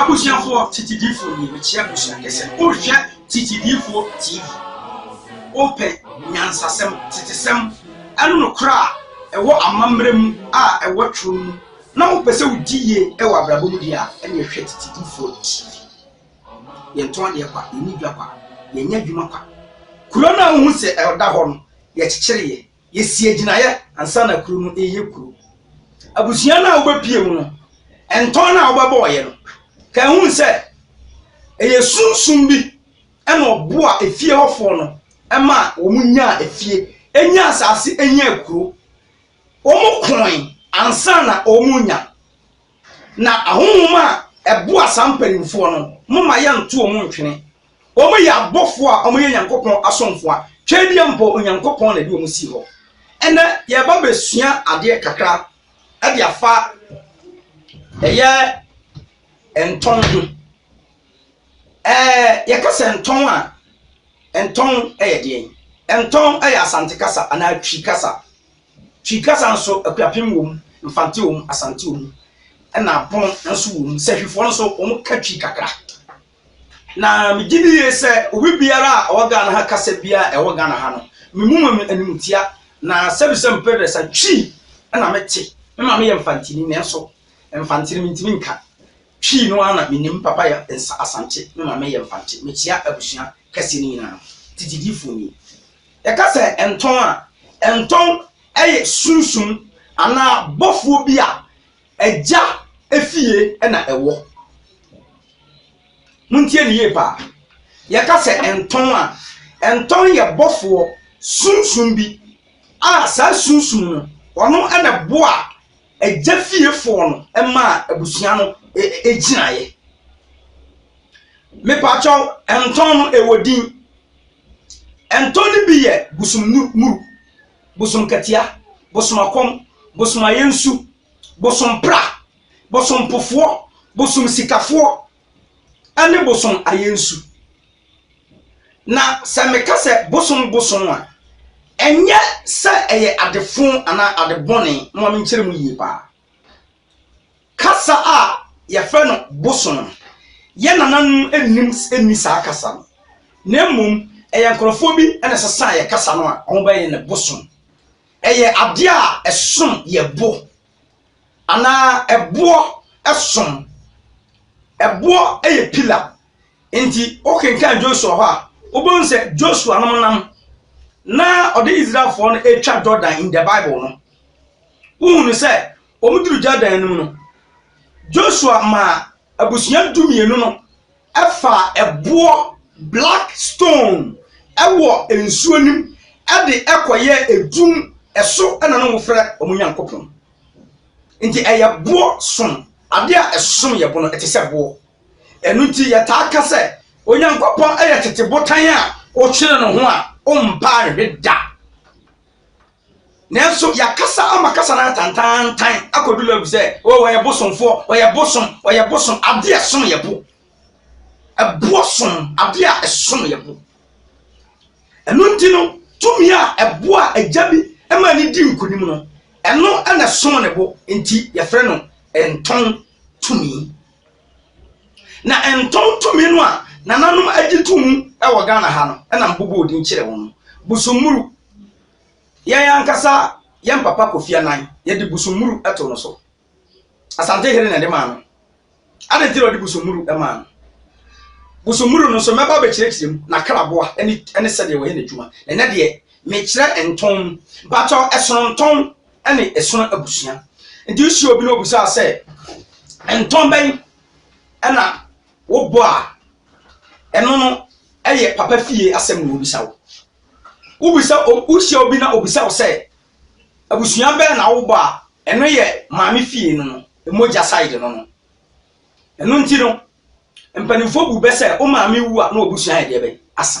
Abusuafoɔ titi diifoɔ nie mekyia abusua kɛsɛ wohwɛ titi diifoɔ tv wopɛ nyansasɛm tetesɛm ɛne nokorɛ a ɛwɔ amammerɛ mu a ɛwɔ twerɛ mu na wopɛ sɛ wodi yie ɛwɔ abrabɔ mu deɛ a ɛne ɛhwɛ titi diifoɔ tv yɛntɔn adeɛ kwa yɛnni dwa kwa yɛnyɛ adwuma kwa kuro no a wohu sɛ ɛda hɔ no yɛkyekyere yɛ, yɛsi agyinaeɛ ansa na kuro no reyɛ kuro. Abusua no a wobɛpie mu no, ntɔn no a wobɛbɔɔyɛ no, ka ɛhu sɛ ɛyɛ sunsum bi ɛna ɔboa efie hɔfoɔ no ɛma wɔn nyaa efie, ɛnya asase, ɛnya kuro. Wɔn koe ansa na wɔn renya. Na ahohom a ɛboa saa mpanimfoɔ no, moma yɛnto wɔn ntwene. Wɔyɛ abɔfoɔ a wɔyɛ Nyankopɔn asomfoɔ a twɛdeɛ mpo Onyankopɔn na ɛde wɔn sii hɔ. Ɛnɛ yɛreba bɛsua adeɛ kakra de afa ɛyɛ ntɔn ho. Ɛɛ yɛka sɛ ntɔn a, ntɔn yɛ deɛn? Ntɔn yɛ Asante kasa anaa Twi kasa. Twi kasa nso Akuapem wɔ mu, Mfante wɔ mu, Asante wɔ mu, ɛna Apono nso wɔ mu. Sahifoɔ nso wɔka Twi kakra. Na megye di yie sɛ obi biara a ɔwɔ Ghana ha kasa biara a ɛwɔ Ghana ha no, memu ma animtia. Na sɛbisɛ mepɛ dɛ sɛ Twi na mete. Me maame yɛ Mfantini nanso Mfantini mentumi nka. Twi no ara na menim. Me papa yɛ Nsa Asante, me maame yɛ Mfante. Mekyea abusua kɛseɛ no nyinaa. Tete Diifoɔ nie. Yɛka sɛ ntɔn a, ntɔn yɛ sunsum anaa bɔfoɔ bi a Agya fie na ɛwɔ. Montie no yie paa. Yɛka sɛ ntɔn a, ntɔn yɛ bɔfoɔ sunsum bi a saa sunsum no ɔno na ɛboa agya fiefoɔ no ma abusua no e, e, gyinaeɛ. Mepaakyɛw, ntɔn no ɛwɔ din. Ntɔn no bi yɛ busumnuru. bosom katia, bosom akɔm, bosom ayɛnsu, bosom pra, bosom pofoɔ, bosom sikafoɔ, ɛne bosom ayɛnsu. Na sɛ meka sɛ bosom bosom a, ɛnyɛ sɛ ɛyɛ adefo anaa adebɔne, momma menkyerɛ mu yie paa. Kasa a wɔfrɛ no boso no, yɛn nananom nnim nni saa kasa no, na mmom ɛyɛ nkurɔfoɔ bi na ɛsesaa yɛn kasa no a wɔbɛyɛ no boso. Ɛyɛ adeɛ a ɛsom yɛ bo anaa ɛboɔ som. Ɛboɔ yɛ pila Enti wokenkan Joshua hɔ a, wobɛhu sɛ Joshua nom nam na ɔde Israelfoɔ no atwa Jordan in the Bible no. Wohunu sɛ wɔduru Jordan anim no, Joshua maa abusua du mmienu no ɛfa ɛboɔ black stone ɛwɔ nsuo nim ɛde ɛkɔyɛ edum ɛso ɛna no wofrɛ wɔn Nyankopɔn. Nti ɛyɛ boɔ som adeɛ a ɛsom yɛ boɔ no ɛte sɛ boɔ. Ɛno nti, yɛtaa ka sɛ Onyankopɔn yɛ tete botan a wokyere no ho a ompa nhwe da. Nanso yɛakasa ama kasa no atantantan akɔdu level sɛ oh, ɔyɛ bosomfoɔ, ɔyɛ bosom, ɔyɛ bosom, adeɛ a ɛsom yɛ bo. Ɛboɔ som, adeɛ a ɛsom yɛ bo. Ɛno nti no, tumi a ɛboɔ a agya bi ma ne di nkonim no, ɛno na ɛsom ne bo, nti yɛfrɛ no ntɔn tumi. Na ntontomi no a nananom agye to mu wɔ Ghana ha no na mebobɔɔ din kyerɛɛ wɔn no, Busummuru. Yɛn ankasa yɛn papa Kofi Annan, yɛde Busummuru too no so. Asante Hene na ɛde maa no. Adɛn nti na ɔde Busummuru maa no? Busummuru no nso mɛba abɛkyerɛkyerɛ mu, n'akraboa ne ne sɛdeɛ wɔyɛ n'adwuma. Na ɛnɛ deɛ, mekyerɛ ntɔn. Mpakyɛw, ɛsono ntɔn ɛne ɛsono abusua nti wohyia obi na obusaa sɛ ntɔn bɛn ɛna wobɔ a ɛno no ɛyɛ papa fie asɛm na wobisa wo wobisa wohyia obi na obisa wo sɛ abusua bɛn na wobɔ a ɛno yɛ maame fie no no mogya side no no ɛno nti no mpanimfoɔ bu bɛ sɛ wo maame wu a na obusua yɛ deɛ bɛn asa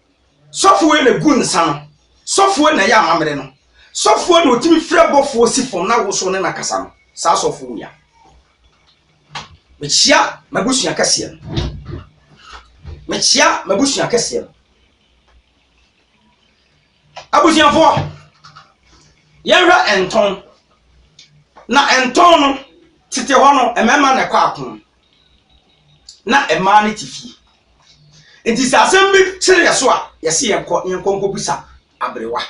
Sɔfoe na egu nsa no, sɔfoe na ɛyɛ amammerɛ no, sɔfoe na otumi frɛ bɔfoɔ si fam na woso ne no kasa no, saa sɔfoɔ wei a. Mekyea m'abusua kɛseɛ no. Mekyea m'abusua kɛseɛ no. Abusuafoɔ, yɛnhwɛ ntɔn. Na ntɔn no, tete hɔ no, mmarima na ɛkɔ ako. na mmaa no te fie. Nti sɛ asɛm bi kyere yɛ so a, yɛse yɛnkɔ ne yɛnkɔ nkɔ bisa aberewa.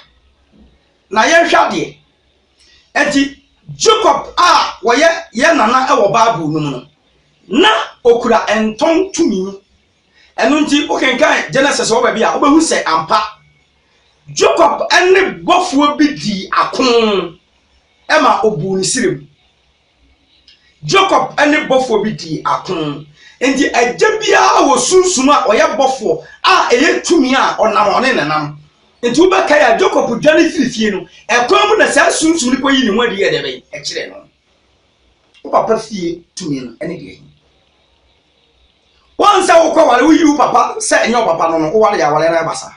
Na yɛnhwɛ adeɛ. Nti Jacob a wɔyɛ yɛn nana wɔ Bible no mu no, na okura ntɔn tumi. Ɛno nti wokenkan Genesis wɔ baabi a wobɛhu sɛ ampa Jacob ne bɔfoɔ bi dii ako ma obuu ne sirem. Jacob ne bɔfoɔ bi dii ako. Enti agya biara wɔ sunsum a ɔyɛ bɔfoɔ a ɛyɛ tumi a ɔnam ɔne ne nam. Enti wobɛkae a Jacob dwane firi fie no, ɛkwan mu na saa sunsum no kɔyi ne ho adi yɛ dɛ bɛn ɛkyerɛ no. Wo papa fie tumi no ɛne deɛ yi. Wɔn sɛ wokɔ ware woyi wo papa sɛ ɛnyɛ wo papa no no woware aware no ɛba saa.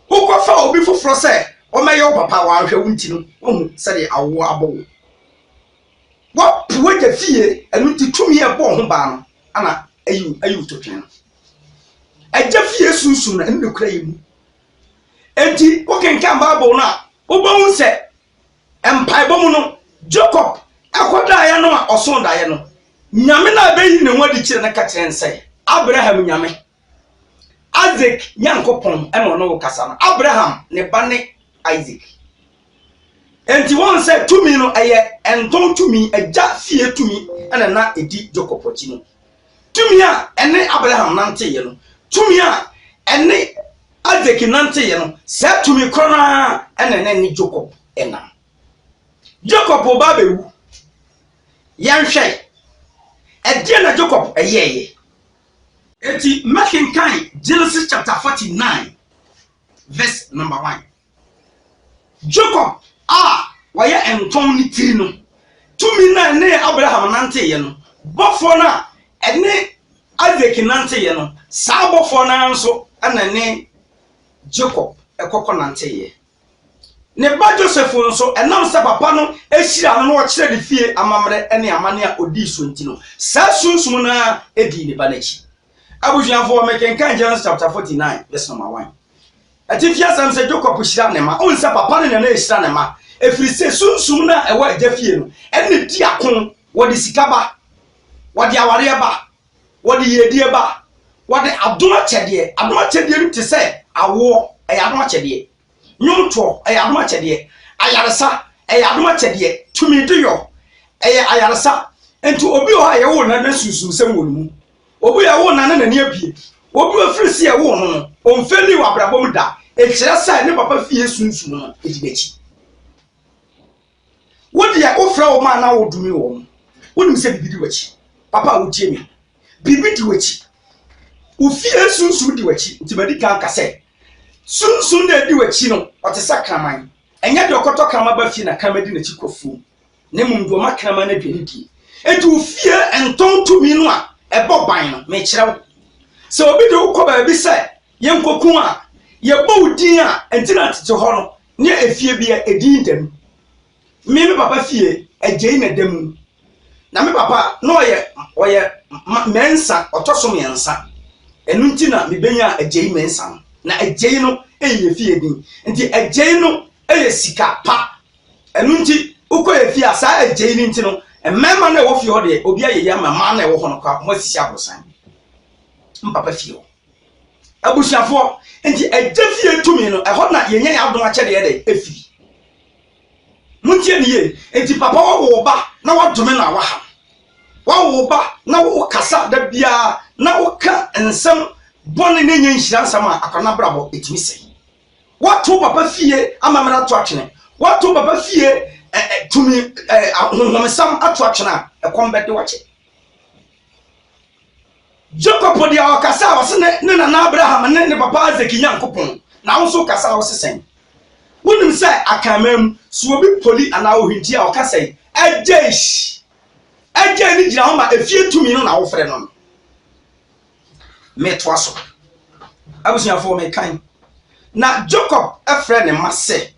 Wokɔfa obi foforɔ sɛ ɔmmɛyɛ wo papa a wanhwɛ wo nti no wahu sɛdeɛ awoɔ abɔ wo. Wapo w'agya fie ɛno nti tumi a ɛbɔɔ ho baa no ana ayi ayi to twɛn no. Agya fie sunsun no ɛno na ɛkura yɛ mu. Enti wokenkan Bible no a wobɛhu sɛ mpaebɔ mu no Jacob ɛkɔ daeɛ no a ɔso daeɛ no Nyame no a ɛbɛyi ne ho adi kyerɛ no ka kyerɛ sɛ Abraham Nyame Isaac Nyankopɔn na ɔne wo kasa no, Abraham ne ba ne Isaac. Enti wɔn sɛ tumi no ɛyɛ ɛntɔn tumi, agya fie tumi ɛna na ɛdi Jacob akyi no. Tumi a ɛne Abraham nanteeɛ no, tumi a ɛne Isaac nanteeɛ no, saa tumi korɔ no ara ɛna na ɛne Jacob ɛnam. Jacob wo ba bɛwu. Yɛnhwɛ, ɛdeɛ na Jacob ɛyɛɛyɛ? Enti mɛkenkan Genesis chapter forty nine verse number one. Jacob a wɔyɛ ntɔn ne tiri no, tumi no a ɛne Abraham nanteeɛ no, bɔfoɔ no a ɛne Isaac nanteeɛ no, saa bɔfoɔ no ara nso na ɛne Jacob kɔkɔ nanteeɛ. Ne ba Joseph nso, ɛnam sɛ papa no hyiraa no na ɔkyerɛɛ no fie amammerɛ ne amanne a odii so nti no, saa sunsum no ara dii ne ba no akyi. Abusuafo, mekenkan Genesis chapter 49 verse number 1. Atifi asɛm sɛ Jacob hyira ne mma. Ohun sɛ papa no na na ehyira ne mma, efiri sɛ sunsum no a ɛwɔ agya fie no, ɛna di ako. Wɔde sika ba, wɔde awareɛ ba, Wɔde yiedie ba. Wɔde adom akyɛdeɛ. Adom akyɛdeɛ no te sɛ awoɔ, ɛyɛ adom akyɛdeɛ. Nnwomtoɔ, ɛyɛ adom akyɛdeɛ. Ayaresa, ɛyɛ adom akyɛdeɛ. Tumi de yɔ, ɛyɛ ayaresa. Nti obi wɔ hɔ a yɛwoo no na sunsumsɛm wɔ ne mu. Obi a yɛwoo no na n'ani abue. Obi a ɛfiri sɛ yɛwoo no no, ɔmfeelii wɔ abrabɔ mu da. Ɛkyerɛ sɛ ne papa fie sunsum no di n'akyi. Wo deɛ wofrɛ wɔn a na wodome wɔn. Wonim sɛ biribi di w'akyi. Papa a wotie me, biribi di w'akyi. Wo fie sunsum di w'akyi. Nti madi kan aka sɛ, sunsum na edi w'akyi no, ɔte sɛ kraman. Ɛnyɛ deɛ ɔkɔtɔ kraman ba fie na kraman di n'akyi kɔ afuom, na mmom deɛ ɔma kraman no aduane die. Enti wo fie ntɔn tumi no a ɛbɔ ban no, mekyerɛ wo. Sɛ obi de wo kɔ baabi sɛ yɛnkɔku wo a, yɛbɔ wo din a, ɛnti na tete hɔ no, ne efie bi a ɛdi ntam. Me me papa fie, agyei na ɛda mu. Na me papa na ɔyɛ ɔyɛ mɛnsa ɔtɔ so mmiɛnsa. Ɛno nti na mebɛnya agyei mɛnsa no. Na agyei no yɛ fie din. Nti agyei no yɛ sika pa. Ɛno nti wokɔ yɛ fie a saa agyei no nti no, mmarima no a ɛwɔ fie hɔ deɛ obi ayɛ yie ama mmaa no a ɛwɔ hɔ no koraa wɔasisi aborosan. Me papa fie hɔ. abusuafoɔ nti agya fie tumi no ɛhɔ na yɛnya yɛ adom akyɛdeɛ dɛ ɛfiri montie ne yie nti papa wawo ba na wadome na waha wawo ba na wokasa da biara na woka nsɛm bɔne ne nyɛ nhyira nsɛm a akwana brabɔ ɛtumi sɛ wato papa fie amammerɛ ato atwene wato papa fie tumi honhomsam ato atwene a ɛkɔm bɛde wakyɛ Jacob po deɛ ɔkasa a ɔse ne ne nana Abraham ne ne papa Isaac Nyankopɔn na wo nso wokasa a wose sɛn? Wonim sɛ Akanman mu so obi poli anaa ohwinti a ɔka sɛi Agyeish! Agyei no gyina hɔ ma efie tumi no na wofrɛ no no. Metoa so. Abusuafoɔ mekan. Na Jacob frɛ ne mma sɛ,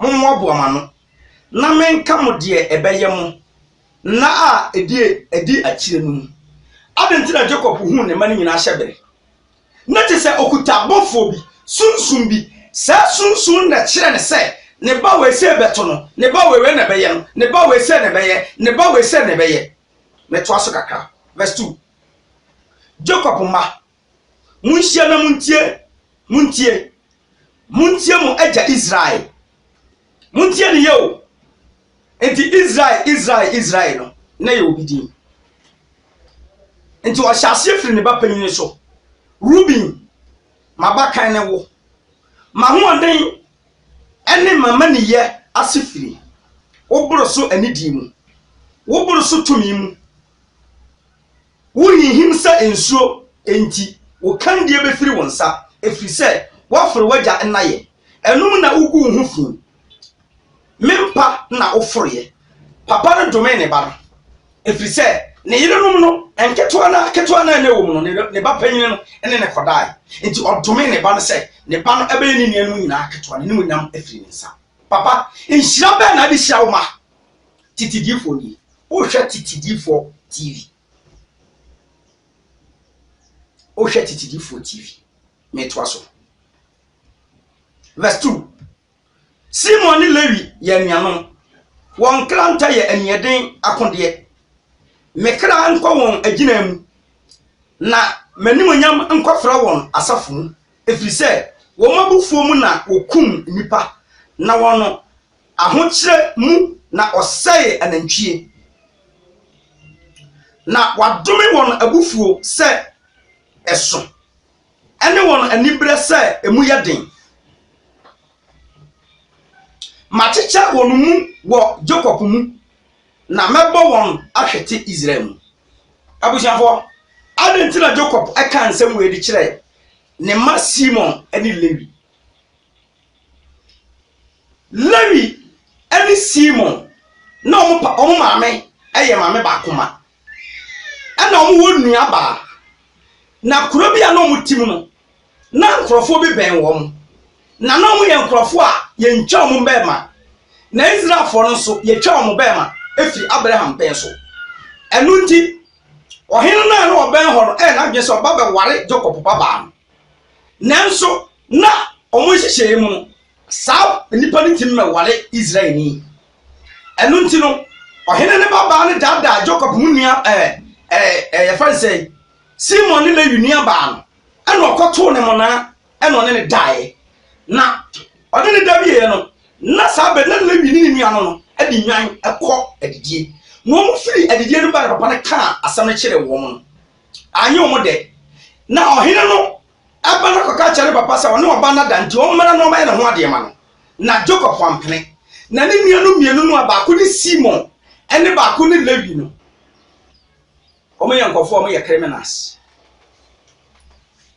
Mommoaboa mo ano na menka mo deɛ ɛbɛyɛ mo. Nna a edi adi akyiri no mu. Adɛn nti na Jacob huu ne mma no nyinaa hyɛ bere? Ná te sɛ ɔkuta abɔfoɔ bi, sunsum bi. Saa sunsum no na ɛkyerɛɛ no sɛ, ne ba wei sei bɛto no, ne ba wei wei na ɛbɛyɛ no, ne ba wei sei na ɛbɛyɛ, ne ba wei sei na ɛbɛyɛ. Metoa so kakra, verse two. Jacob mma Monhyia na montie, montie, montie mo agya Israel. Montie ne yɛ o. Nti Israel, Israel, Israel no, na yɛ obi din. Nti ɔhyɛ aseɛ firi ne ba panyini so. Ruben, m'abakan ne wo. M'ahoɔden ne m'amaniyɛ ase firi wo boro so anidie mu, wo boro so tumi mu. Worehinhim sɛ nsuo, enti wo kandie bɛfiri wo nsa, ɛfiri sɛ woaforo w'agya nnaeɛ. Ɛno mu na wogu wo ho fi. Me mpa na woforoeɛ. Papa no domee ne ba no, ɛfiri sɛ ne yerenom no, nketewa no ara ketewa no ara a na ɛwom no, ne ba panin no ne no kɔdaeɛ. Enti ɔdomee ne ba no sɛ ne ba no bɛyɛ ne nuanom nyinaa ketewa, n'animuonyam afiri ne nsa. Papa, nhyira bɛn na wode hyira wo mma? Tete diifoɔ nie. Wohwɛ tete diifoɔ TV. Wohwɛ tete diifoɔ TV. Metoa so. Verse 2. Simon ne Lewi yɛ anuanom. Wɔn nkrantɛ yɛ aniɛden akodeɛ. Me kra nkɔ wɔn agyina mu, na m'animuonyam nkɔfra wɔn asafo mu, ɛfiri sɛ wɔn abufuo mu na wɔkum nnipa, na wɔn Ahokyerɛ mu na ɔsɛee anantwie. Na wadome wɔn abufuo sɛ ɛso, ne wɔn aniberɛ sɛ emu yɛ den. Makyekyɛ wɔn mu wɔ Yakob mu, na mɛbɔ wɔn ahwete Israel mu. Abusuafoɔ, adɛn nti na Yakob kaa nsɛm wei de kyerɛɛ ne mma Simon ne Lewi? Lewi ne Simon na wɔn pa wɔn maame yɛ maame baako ma. Ɛna wɔwɔ nua baa. Na kuro bi a na wɔte mu no, na nkurɔfoɔ bi bɛn wɔn. Na na wɔyɛ nkurɔfoɔ a yɛntwa wɔn bɛrima. Na Israelfoɔ no nso, yɛtwa wɔn bɛrima firi Abraham pɛn so. Ɛno nti, ɔhene no a na ɔbɛn hɔ no ɛyɛ n'adwene sɛ ɔba bɛware Jacob babaa no. Nanso, na wɔn nhyehyɛe mu no, saa nnipa no ntumi mmɛware Israelni. Ɛno nti no, ɔhene no babaa no daadaa Jacob mu nua ɛɛ ɛɛ ɛɛ yɛfrɛ no sɛ Simon ne Lewi nuabaa no, ɛna ɔkɔtoo ne mmonnaa ɛna ɔne ne daeɛ. Na ɔne ne da wieeɛ no, na saa bɛ na Lewi ne ne nua no no de nnwan kɔ adidie. Na wɔfiri adidie no ba na papa no kaa asɛm no kyerɛɛ wɔn no. Anyɛ wɔn dɛ. Na ɔhene no ba no kɔka kyerɛɛ ne papa sɛ ɔne ɔba no ada nti ɔmmra na ɔmmɛyɛ ne ho adeɛ mma no. Na Jakob wampene. Na ne nuanom mmienu no a baako ne Simon ne baako ne Lewi no, wɔyɛ nkurɔfoɔ a wɔyɛ criminals.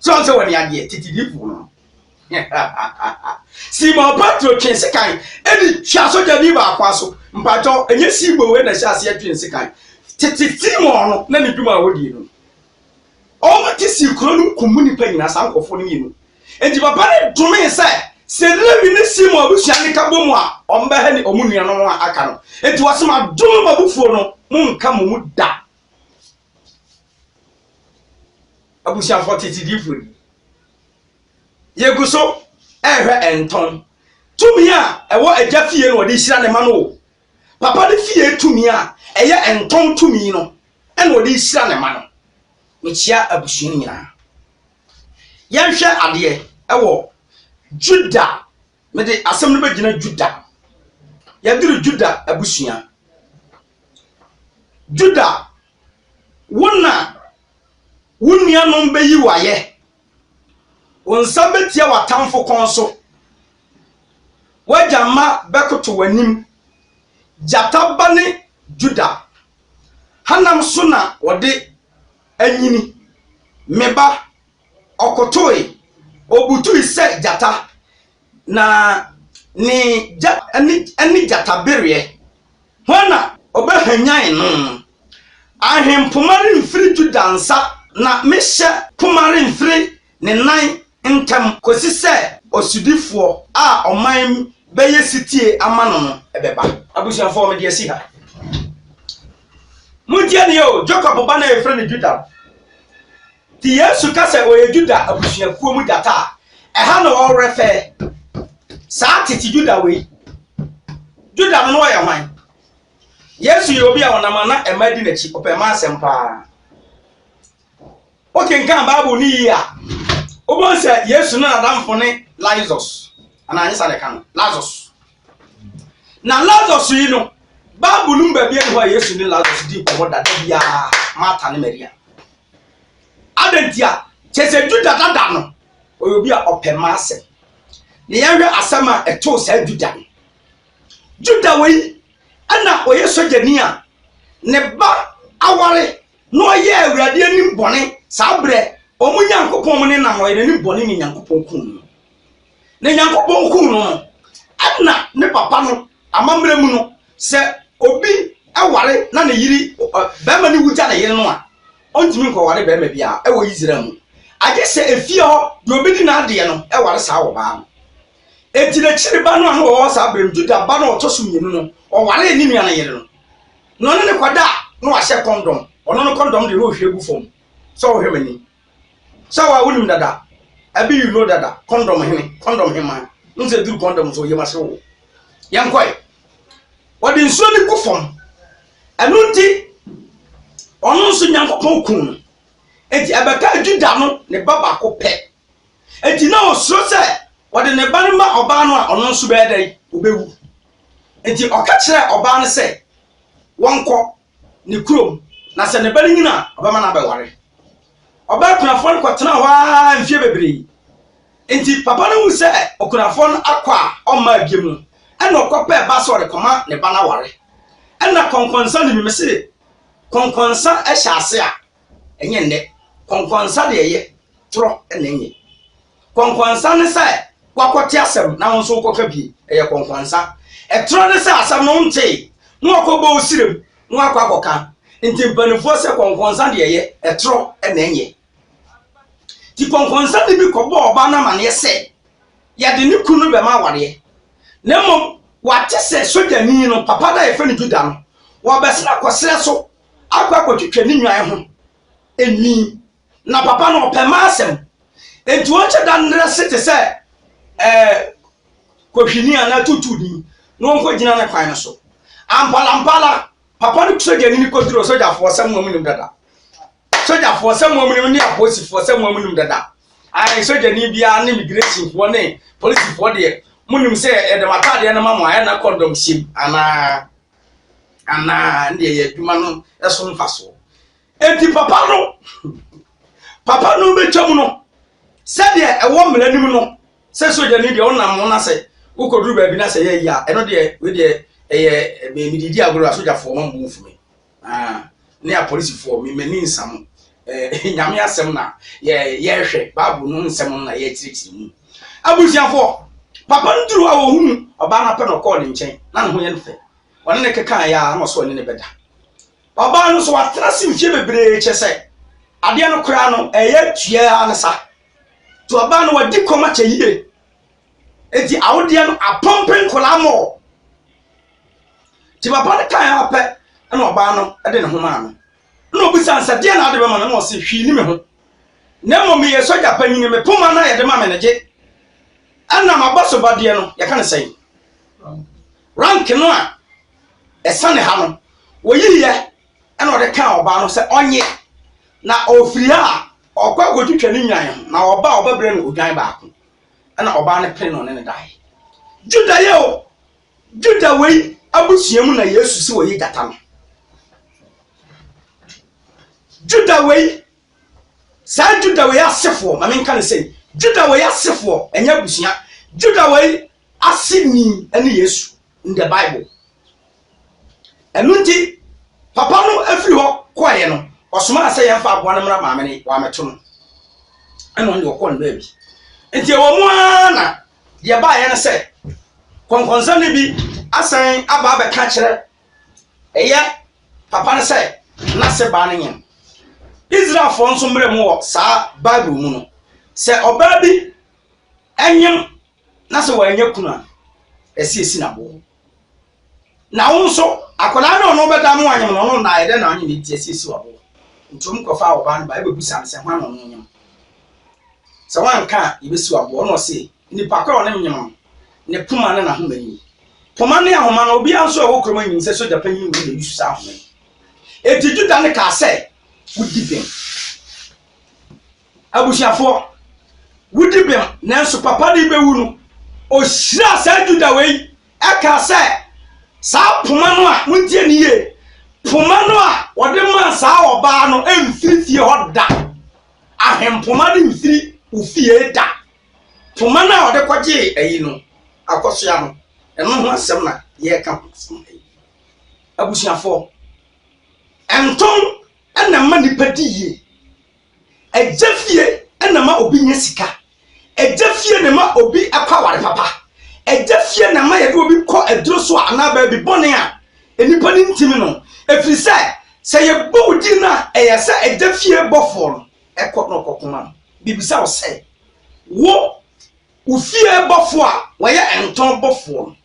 sɛ ɔn sɛ wɔne adeɛ tete difoɔ no Simon Petro twe sekan ɛne twa sogyani baako aso mpakyɛw ɛnyɛ Simon wei na ɛhyɛ aseɛ twe sekan tete Simon no na ne dwuma a wɔdie no ɔmo te sii kuro no nkum nnipa nyinaa saa nkurɔfoɔ no mmienu nti papa no domee sɛ sɛ Lewi ne Simon abusua ne ka bɔ mu a ɔmo bɛhɛ ne ɔmo nuanom a aka no nti wɔsɛ ma dom mabufuo no mo nka mo mu da Abusuafo tete difo ni. Yegu so ɛrehwɛ ɛntɔn. Tumi a ɛwɔ agya fie na ɔde hyira ne ma no o. Papa ne fie tumi a ɛyɛ ɛntɔn tumi no ɛna ɔde hyira ne ma no. Mekyia abusua no nyinaa. Yɛnhwɛ adeɛ ɛwɔ Juda. Mede asɛm no bɛgyina Juda. Yɛduru Juda abusua. Juda, wo na wo nuanom bɛyi wo ayɛ, wo nsa bɛtia w'atamfo kɔn so, w'agya mma bɛkoto w'anim, gyata ba ne Juda hanam so na wɔde anyini. Me ba, ɔkotoe, ɔbutui sɛ gyata. Na ne gya ne ne gyatabereɛ, hwan na ɔbɛhwanyan no? Ahempoma remfiri Yuda nsa, na me hyɛ poma remfiri ne nan ntam kɔsi sɛ ɔsodifoɔ a ɔman bɛyɛ setie ama no no bɛba. Abusuafoɔ, mede asi ha. Montie nie o, Jakob ba no a yɛfrɛ no Yuda no. Te Yesu ka sɛ ɔyɛ Yuda abusuakuo mu gyata a, ɛha na ɔwerɛ fɛɛ saa tete Yuda wei. Yuda no na ɔyɛ hwan? Yesu yɛ obi a ɔnam a na mmaa di n'akyi, ɔpɛ mmaa asɛm paa. Wokenkan Bible no yie a, wobɛhu sɛ Yesu no n'adamfo ne Lazarus, anaa nyɛ saa na ɛka no, Lazarus. Na Lazarus yi no, Bible no mu baabi ani hɔ a Yesu ne Lazarus di nkɔmmɔ dada biara, Marta ne Maria. Adɛn ntia? Kyerɛ sɛ Juda dada no, ɔyɛ obi a ɔpɛ mma asɛm. Ne yɛnhwɛ asɛm a ɛtoo saa Juda no. Juda wei na ɔyɛ sogyani a ne ba aware na ɔyɛ Awurade anim bɔne saa berɛ wɔn Nyankopɔn mo ne nam ɔyɛ n'anim bɔne ne Nyankopɔn kum no. Ne Nyankopɔn kum no no, ɛna ne papa no amammerɛ mu no, Sɛ obi ware na ne yere barima no wu gya ne yere no a, ɔntumi nkɔware barima biara wɔ Israel mu, agye sɛ efie hɔ deɛ ɔbɛdi n'adeɛ no ware saa ɔbaa no. Enti n'akyiri ba no a na ɔwɔ hɔ saa berɛ no, Juda ba no a ɔtɔ so mmienu no, ɔwaree ne nua no yere no, na ɔne no kɔda a na wahyɛ kɔndɔm, ɔno no kɔndɔm deɛ na ɔhwie gu fam sɛ ɔhwɛ m'anim. Sɛ wa wo nim dada abi you know dada condom hene condom hema n sɛ duru condom so yɛ ma se wo yɛn kɔe wɔde nsuo ne gu fam ɛno nti ɔno nso nyankopɔn kun no enti ɛbɛka juda no ne ba baako pɛ enti na ɔsuro sɛ wɔde ne ba no ma ɔbaa no a ɔno nso bɛyɛ dɛn ɔbɛwu enti ɔka kyerɛ ɔbaa no sɛ wɔnkɔ ne kurom, na sɛ ne ba no nyin a, ɔbɛma no abɛware. Ɔbaa kunafoɔ no kɔtenaa hɔ ara mfeɛ bebree. Enti papa no hu sɛ okunafoɔ no akɔ a ɔmmaa biam no, ɛna ɔkɔpɛɛ ba sɛ ɔde kɔma ne ba no aware. Ɛna kɔnkɔnsa ne mimese kɔnkɔnsa hyɛ ase a, Ɛnyɛ nnɛ. Kɔnkɔnsa deɛ ɛyɛ torɔ na ɛnyɛ. Kɔnkɔnsa ne sɛ wakɔte asɛm na wo nso wokɔka bie. Ɛyɛ kɔnkɔnsa. Ɛtorɔ ne sɛ asɛm no wontee na wakɔbɔ wo sirem na wakɔ akɔka. Nti mpanimfoɔ sɛ kɔnkɔnsa deɛ ɛyɛ ɛtorɔ na ɛnyɛ. Nti kɔnkɔnsa de bi kɔbɔɔ ɔbaa no amaneɛ sɛ yɛde ne kunu no bɛma awareɛ. Na mmom wate sɛ sogyani no papa no a yɛfrɛ no Juda no, wɔbɛsena kɔserɛ so akɔ akɔtwitwa ne nnwan ho nwi. Na papa no, ɔpɛ mma asɛm. Enti ɔnkyɛ da nnɛrɛ ase te sɛ ɛɛ kɔhwini anaa tuutuuni na ɔnkɔgyina ne kwan no so. Amparampara, papa no sogyani no kɔduruu sogyafoɔ sɛ mo a monim dada. Sogyafoɔ sɛ mo a monim ne apolisifoɔ sɛ mo a monim dada. Ae, sogyani biara ne migresifoɔ ne polisifoɔ deɛ, monim sɛ yɛde mo ataadeɛ no ma mo a, ɛnna kɔndɔm hyem anaa? anaa neɛ yɛ adwuma no so mfasoɔ enti papa no papa no bɛtwa mu no sɛdeɛ ɛwɔ mmara nim no sɛ sogyani deɛ wonam ho no sɛ wokɔduru baabi no sɛ yɛyi a ɛno deɛ wei deɛ ɛyɛ medidi agorɔ a sogyafoɔ ma mbu mfumi ne apolisifoɔ, me m'ani nsa mo. Eh, Nyame asɛm na yɛrehwɛ, Bible no nsɛm no na yɛrekyerɛkyerɛ mu. Abusuafoɔ, papa no duru hɔ a wɔhunu ɔbaa no apɛ na ɔkɔɔ ne nkyɛn, na ne ho yɛ no fɛ. Ɔne ne kekaa yɛ a na ɔsɛ ɔne ne bɛda. Ɔbaa no nso watena se mfie bebree kyɛ sɛ adeɛ no koraa no ɛyɛ tuaa ne sa. Nti ɔbaa no wadi kɔm akyɛ yie. Enti awodeɛ no apɔmpe nkwadaa mɔɔ. Nti papa no kae ara pɛ na ɔbaa no de ne ho maa no. Na ɔbisa no sɛ deɛ na ade bɛma no na ɔse hwii ni me ho. Na mmom meyɛ sogya panyin me poma no a yɛde ma me no gye. Ɛna maba so ba deɛ no yɛka no sɛn. Rank no a ɛsane ha no wɔyiiɛ ɛna ɔde kaa ɔbaa no sɛ ɔnye na ɔfiri ha a ɔkɔ akɔtwitwa ne nwan ho na ɔba a ɔbɛbrɛ no odwan baako. ɛna ɔbaa no pene na ɔne no dae. Juda yɛ o, Juda wei abusua mu na Yesu si wɔyi gyata no. Juda wei, saa Juda wei asefoɔ, ma menka no sɛ, Juda wei asefoɔ, ɛnyɛ abusua, Juda wei ase ni ɛne Yesu in the Bible. Ɛno nti, papa no firi hɔ kɔeɛ no, ɔsomaa sɛ yɛmfa aboa no mmra maame no, wɔammɛto no. Ɛna ɔno deɛ ɔkɔɔ no baabi. Nti ɛwɔ mu ara na deɛ baeɛ no sɛ, kɔnkɔnsa no bi asan aba abɛka kyerɛ ɛyɛ papa no sɛ n'ase baa no nyɛ Israelfoɔ nso mmerɛ mu wɔ saa Bible mu no, sɛ ɔbaa bi ɛnyem Na sɛ wannya kunu a, ɛsɛ esi no aboɔ. Na wo nso, akwadaa no a ɔno bɛda mo anyem no, ɔno nnaeɛ dɛn na ɔnyem nti ɛsɛ esi wo aboɔ. Nti wɔn kɔfaa ɔbaa no ba ɛbɛbisa no sɛ hwan na ɔno nyem. Sɛ wanka a, yɛbɛsi wo aboɔ. Ɔno ɔse, nipa ko a ɔne me nyem no, ne poma ne n'ahoma nie. Poma ne ahoma no, obiara nso a ɔwɔ kurom nyim sɛ sogya panyin wei na ɛyusu saa ahoma yi. Enti Juda no kaa sɛ, Wodi bem. abusuafoɔ, wodi bem, nanso papa no rebɛwu no, ɔhyiraa saa Juda wei kaa sɛ, Saa poma no a, montie ne yie, poma no a wɔde maa saa ɔbaa no mfiri fie hɔ da, ahempoma no mfiri wo fie da. Poma no a wɔde kɔgyee ayi no, akɔsoa no, ɛno ho asɛm na yɛreka ho asɛm ha yi. Abusuafoɔ, ntɔn na ɛma nnipa di yie. Agya fie na ɛma obi nya sika. Agya fie na ɛma obi kɔ aware papa. Agya fie na ɛma yɛde obi kɔ aduro so a anaa baabi bɔne a nnipa no ntimi no. Ɛfiri sɛ, sɛ yɛbɔ wo din no a, ɛyɛ sɛ agya fie bɔfoɔ no ɛkɔ na ɔkɔko ma no. Bibisa wo sɛ, wo wo fie bɔfoɔ a wɔyɛ ntɔn bɔfoɔ no,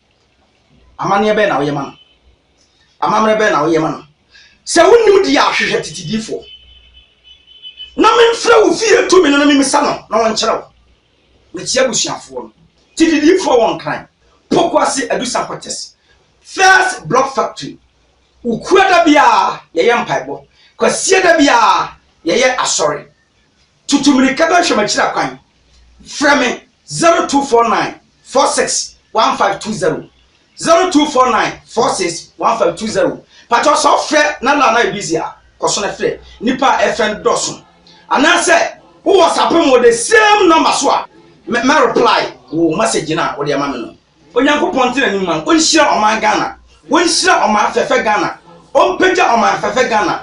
Amanneɛ bɛn na woyɛ ma no? Amammerɛ bɛn na woyɛ ma no? Sɛ wonnim deɛ a, hwehwɛ tete diifoɔ na memfrɛ wo fie tumi no na memisa no na wɔnkyerɛ wo. Mekyea abusuafoɔ no, tete diifoɔ wɔ Nkran, Pokuase Adu Sankɔtɛs, First Block Factory. Wukuada biara yɛyɛ mpaebɔ, Kwasiada biara yɛyɛ asɔre. Tutu mmirika bɛhwɛ m'akyiri akwan. Frɛ me 0249 46 1520, 0249 46 1520. Pakyɛw sɛ wofrɛ na line no ayɛ busy a, kɔ so na frɛ. Nnipa a ɛrefrɛ no dɔɔso. Anaasɛ wowɔ sapem wɔ the same number so a, mɛ, mɛ reply wo message no a wode ama me no. Onyankopɔn ntena anim ma no ɔnhyira ɔman Ghana ɔnhyira ɔman fɛfɛ Ghana ɔmpagya ɔman fɛfɛ Ghana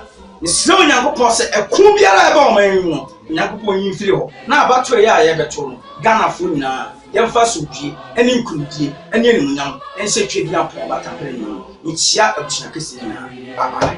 mesrɛ Onyankopɔn sɛ ɛko biara a ɛba ɔman yi mu no Onyankopɔn nyi mfiri hɔ na abatoɔ yɛ a yɛbɛto no Ghanafoɔ nyinaa yɛmfa asomdwie ɛne nkunimdie ɛne animuonyam ɛnhyɛ Tweaduampɔn Batamprenu mu mekyia abusua kɛseɛ nyinaa bye bye.